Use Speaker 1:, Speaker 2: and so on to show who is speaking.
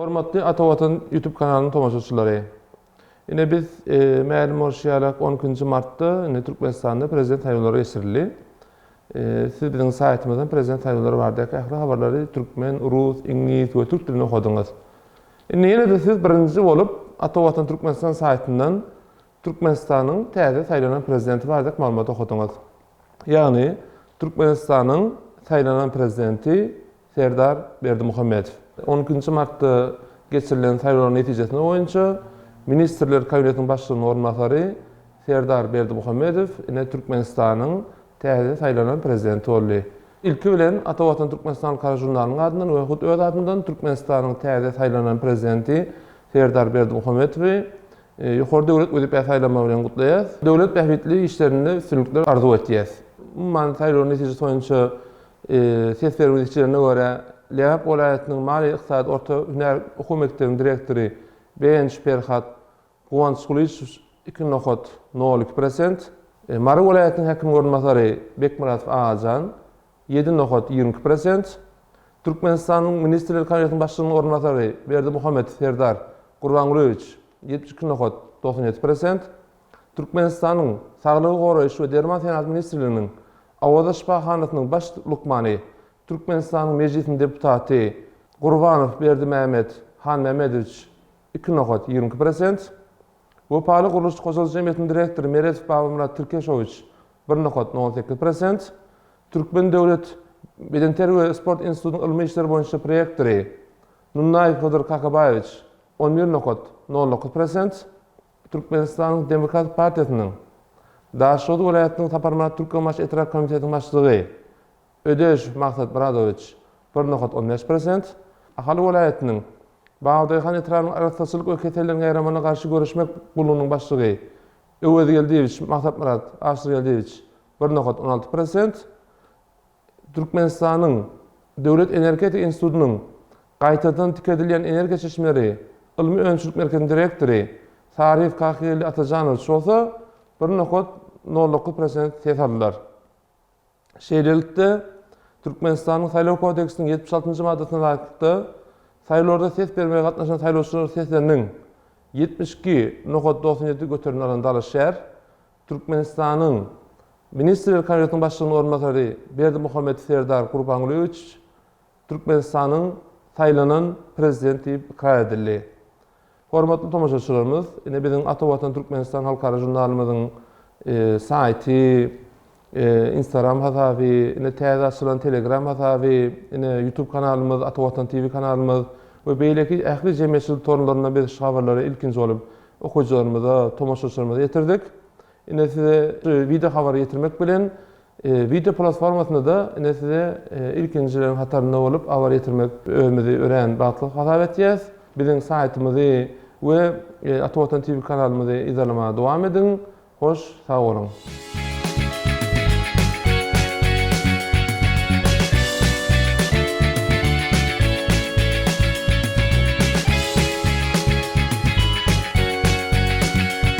Speaker 1: Hormatly Ata Watan YouTube kanalynyň tomaşaçylary. Ine biz e, mälim bolşy ýaly 12-nji martda indi Türkmenistanda prezident saýlawlary geçirildi. E, siz biziň saýtymyzdan prezident saýlawlary baradaky ähli habarlary türkmen, rus, iňlis we türk dilinde okadyňyz. Indi ýene-de siz birinji bolup Ata Watan Türkmenistan saýtyndan Türkmenistanyň täze saýlanan prezidenti baradaky maglumaty okadyňyz. Ýagny, Türkmenistanyň saýlanan prezidenti Serdar Berdimuhamedow. On ikinji martda geçirilen saýlawlaryň netijesine boýunça Ministrler Kabinetiniň Başlygynyň orunbasary Serdar Berdimuhamedow ine Türkmenistanyň täze saýlanan prezidenti boldy. Ilki bilen, Ata Watan Türkmenistan halkara žurnalynyň adyndan we hut öz adymdan Türkmenistanyň täze saýlanan prezidenti Serdar Berdimuhamedowy Ýokary döwlet wezipä saýlanmagy bilen gutlaýas. Döwlet bähbitli işlerinde üstünlikler arzuw etýäs. Umuman, saýlawyň netijesi boýunça ses berme netijelerine görä, Lebap welaýatynyň maliýe-ykdysady orta hünär okuw mekdebiniň direktory Begenç Perhat Guwançgulyjow iki nokat nol iki prosent, Mary welaýatynyň häkimiň orunbasary Bekmyradow Agajan, Ýedi nokat ýigrimi iki prosent. Türkmenistanyň Ministrler Kabinetiniň Başlygynyň orunbasary Berdimuhamedow Serdar Gurbangulyýewiç, ýetmiş iki nokat togsan ýedi prosent. Türkmenistanyň Saglygy goraýyş we derman senagat ministrliginiň Awaza şypahanasynyň baş lukmany, Türkmenistanyň Mejlisiniň deputaty Gurbanow Berdimämet Hanmämmedowiç, iki nokat ýigrimi iki prosent. Wepaly gurluşyk hojalyk jemgyýetiniň direktory Meredow Babamyrat Tirkeşowiç, bir nokat, nol sekiz prosent, Türkmen döwlet bedenterbiýe we sport institutynyň ylmy işler boýunça prorektory Nunnaýew Hydyr Kakabaýewiç, on bir nokat, nol dokuz prosent, Türkmenistanyň Demokratik partiýasynyň Daşoguz welaýatynyň Saparmyrat Türkmenbaşy etrap komitetiniň başlygy, Ödeş Maksat Myradowiç, bir nokat on bäş prosent, Ahal welaýatynyň Bugdaýhan etrabynyň Arassaçylyk we keselleriň ýaýramagyna garşy göreşmek gullugynyň başlygy Öwezgeldiýewiç Maksatmyrat Aşyrgeldiýewiç, bir nokat on alty prosent, Türkmenistanyň Döwlet energetika institutynyň Gaýtadan tikedilýän energiýa çeşmeleri ylmy-önümçilik merkeziniň direktory Sarif Kakygeldi Atajanowiç bolsa, bir nokat nol dokuz prosent ses aldylar. Şeýlelikde, Türkmenistanyň Saýlaw kodeksiniň ýetmiş altynjy maddasyna laýyklykda, saýlawlarda ses bermäge gatnaşan saýlawçylar sesleriniň ýetmiş iki nokat doksan ýedi göterimini alan dalaşgär Türkmenistanyň Ministrler Kabinetiniň Başlygynyň orunbasary Berdimuhamedow Serdar Gurbangulyýewiç Türkmenistanyň saýlanan Prezident diýip ykrar edildi. Hormatly tomaşaçylarymyz, ine biziň Ata Watan Türkmenistan halkara žurnalymyzyň saýty, Instagram hasaby, ine täze açylan Telegram hasaby, ine Youtube kanalymyz, Ata Watan TV kanalymyz we beýleki ähli jemgyýetçilik torlarynda biz şu habarlary ilkinji bolup okyjylarymyza, tomaşaçylarymyza ýetirdik. Ine size video habary ýetirmek bilen video platformasynda-da ine size ilkinjileriň hatarynda bolup habar ýetirmek özümizi örän bagtly hasap etýäs. Biziň saýtymyzy we Ata Watan TV kanalymyzy yzarlamaga dowam ediň. Hoş sag boluň.